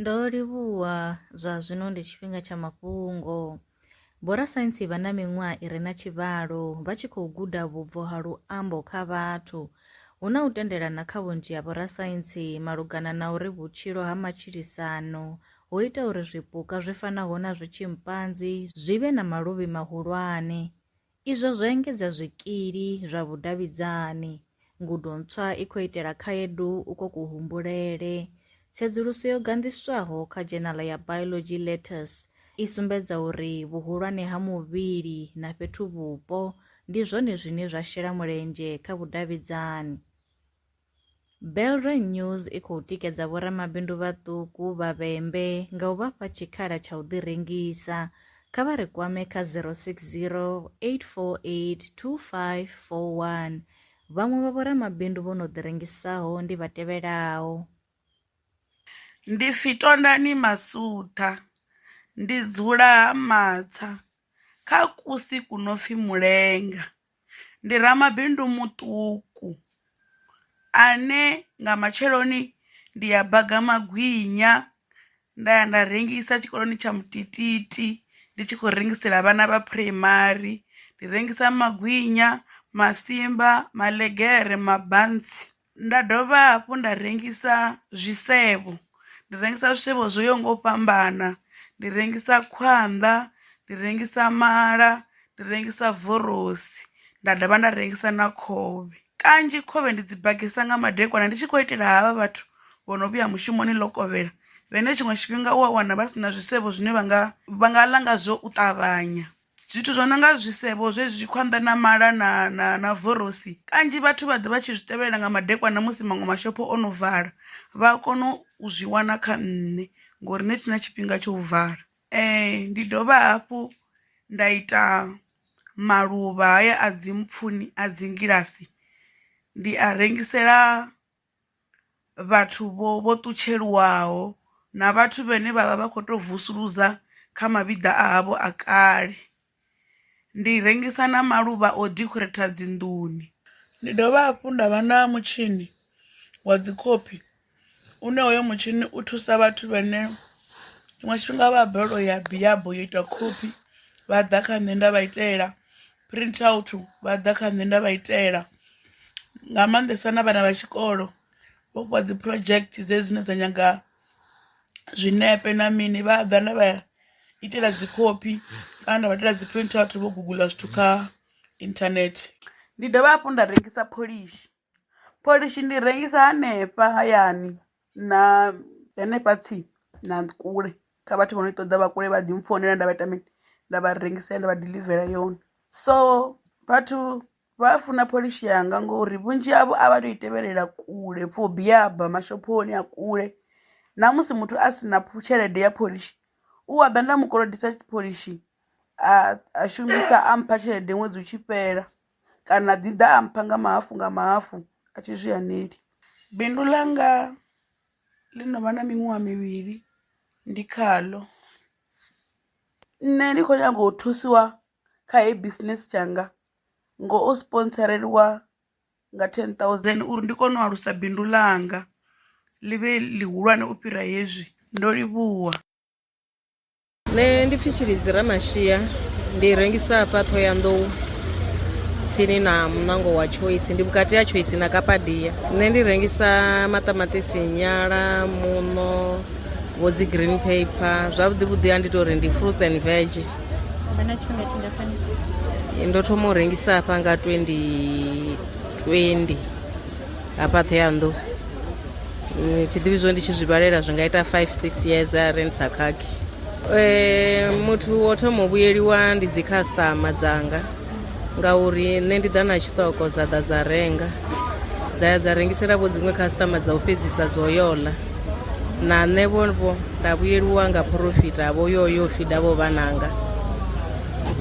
Ndo livhuwa zwa zwino ndi tshifhinga tsha mafhungo. Vhorasaintsi vha na miṅwaha i re na tshivhalo vha tshi khou guda vhubvo ha luambo kha vhathu. Hu na u tendelana kha vhunzhi ha vhorasaintsi malugana na uri vhutshilo ha matshilisano ho ita uri zwipuka zwi fanaho na zwitshimpanzi zwi vhe na maluvhi mahulwane. Izwo zwo engedza zwikili zwa vhudavhidzani. Ngudo ntswa i khou itela khaedu ukwo kuhumbulele. Tsedzuluso yo ganḓiswaho kha dzhenala ya Biology Letters i sumbedza uri vhuhulwane ha muvhili na fhethu-vhupo ndi zwone zwine zwa shela mulenzhe kha vhudavhidzani. Belrine News i khou tikedza vhoramabindu vhaṱuku vha vhembe nga u vha fha tshikhala tsha u ḓirengisa. Kha vha ri kwame kha 060 848 2541. Vhaṅwe vha vhoramabindu vho no ḓirengisaho ndi vha tevhelaho. Ndi pfi Tondani Masuṱha, ndi dzula Ha Matsha kha kusi ku no pfi Mulenga. ndi ramabindu muṱuku ane nga matsheloni ndi ya baga magwinya nda ya nda rengisa tshikoloni tsha mutititi ndi tshi khou rengisela vhana vha phuraimari ndi rengisa magwinya, masimba, maḽegere, mabantsi. nda dovha hafhu nda rengisa zwisevho ndi rengisa zwisevho zwo yaho nga u fhambana ndi rengisa khwanḓa ndi rengisa mala ndi rengisa vorosi nda dovha nda rengisa na khovhe kanzhi khovhe ndi dzi bagisa nga madekwana ndi tshi khou itela havha vhathu vho no vhuya mushumoni ḽo kovhela vhene tshiṅwe tshifhinga u a wana vha si na zwisevho zwine vha nga vha nga ḽa ngazwo u ṱavhanya. zwithu zwo no nga zwisevho zwezwi khwanḓa na mala na na na vorosi kanzhi vhathu vha ḓa vha tshi zwi tevhelela nga madekwana musi maṅwe mashopho o no vala vha a kona u zwi wana kha nṋe ngori nṋe thi na tshifhinga tsho u vala ee ndi dovha hafhu nda ita maluvha haya a dzi mpfuni a dzi ngilasi ndi a rengisela vhathu vho vho ṱutsheliwaho na vhathu vhane vha vha vha kho to vusuludza kha mavhiḓa a havho a kale ndi rengisa na maluvha o dekhoreitha dzi nḓuni. Ndi dovha hafhu nda vha na mutshini wa dzi khophi une hoyo mutshini u thusa vhathu vhane tshiṅwe tshifhinga vha balelwa u ya biyabo yo ita khophi vha ḓa kha nṋe nda vha itela. print out vha ḓa kha nṋe nda vha itela nga maanḓesa na vhana vha tshikolo vho fhiwa dzi project dze dzine dza nyaga zwinepe na mini vha ḓa nda vha itela dzi khophi kana nda vha itela dzi print out vho guguḽa zwithu kha internet ndi dovha hafhu nda rengisa pholishi. Pholishi ndi rengisa hanefha hayani na hanefha tsini na kule kha vhathu vho no i ṱoḓa vha kule vha ḓi mpfonela nda vha ita mini nda vha rengisela nda vha diḽivela yone. So vhathu vha a funa pholishi yanga ngori vhunzhi havho a vha to i tevhelela kule for biyaba mashophoni a kule na musi muthu a si na tshelede ya pholishi u a ḓa nda mu kolodisa pholishi a shumisa a mpha tshelede ṅwedzi utshi fhela. kana ḓi ḓa a mpha nga mahafhu nga mahafhu a thi zwi haneli. Bindu ḽanga ḽi no vha na miṅwaha mivhili ndi khaḽo nṋe ndi kho nyaga u thusiwa kha heyi bisinese tshanga ngo u sponsoreliwa nga ten thousand uri ndi kone u alusa bindu ḽanga ḽi vhe ḽihulwane u fhira hezwi ndo livhuwa. Nṋe ndi pfi Tshilidzi Ramashia ndi rengisa hafha Thohoyandou tsini na muṋango wa Choice ndi vhukati ha Choice na Kapadia. Nṋe ndi rengisa maṱamaṱisi, nyala, muṋo, vho dzi green paper zwavhuḓi vhuḓi a ndi tori ndi fruits and veg. Vha na tshifhinga tshingafhani? Ndo thoma u rengisa hafha nga 2020. hafha ṱheyanḓu Mm, tshiḓivhi zwo ndi tshi zwi vhalela zwi nga ita 5 6 years a ri ndi sa khakhi Eh, muthu wo thoma u vhuyeliwa ndi dzikhasitama dzanga ngauri nṋe ndi ḓa na tshiṱoko dza ḓa dza renga dza ya dza rengisela vho dziṅwe khasitama dza u fhedzisa dzo yola na nṋe vhovho nda vhuyeliwa nga phorofita vho yoyo fida vho vhananga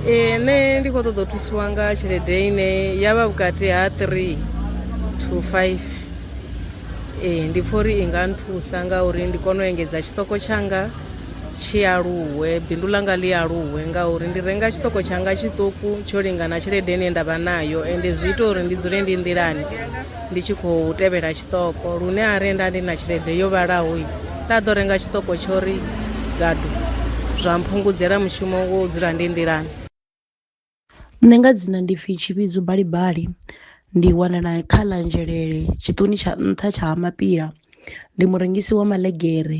ee nṋe ndi khou ṱoḓa u thusiwa nga tshelede ine ya vha vhukati ha three to five ee ndi pfha uri i nga nthusa ngauri ndi kone u engedza tshiṱoko tshanga tshi aluwe bindu ḽanga ḽi aluwe ngauri ndi renga tshiṱoko tshanga tshiṱuku tsho lingana tshelede ine nda vha nayo ende zwi ita uri ndi dzule ndi nḓilani ndi tshi khou tevhela tshiṱoko lune a renda ndi na tshelede yo vhalaho nda ḓo renga tshiṱoko tsho ri gadu zwa mphungudzela mushumo wo dzula ndi nḓilani nṋe nga dzina ndi pfhi tshivhidzo balibali ndi wanala kha ḽa nzhelele tshiṱoni tsha nṱha tsha ha mapila ndi murengisi wa maḽegere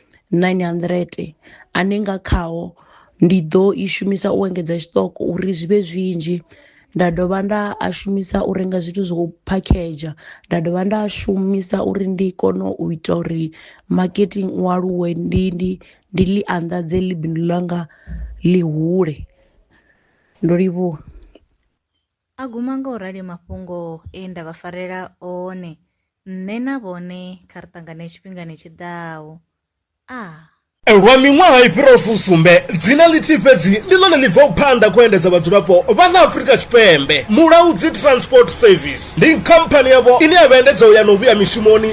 900 ane nga khao ndi ḓo i shumisa u engedza tshiṱoko uri zwi vhe zwinzhi nda dovha nda a shumisa u renga zwithu zwo phakhedzha nda dovha nda shumisa uri ndi kone u ita uri marketing u aluwe ndi ndi ndi ḽi anḓadze ḽi bindu ḽanga ḽi hule ndo livhuwa. A guma nga u rali mafhungo e nda vha farela one, nṋe na vhone kha ri ṱangane tshifhingani tshi ḓaho. A. Lwa miṅwaha i fhiraho fusumbe, dzina ḽithihi fhedzi ndi ḽone ḽi bvaho phanḓa kha u endedza vhadzulapo vha ḽa Afrika Tshipembe, Mulaudzi Transport Service. Ndi khamphani yavho ine ya vha endedza u ya na u vhuya mishumoni,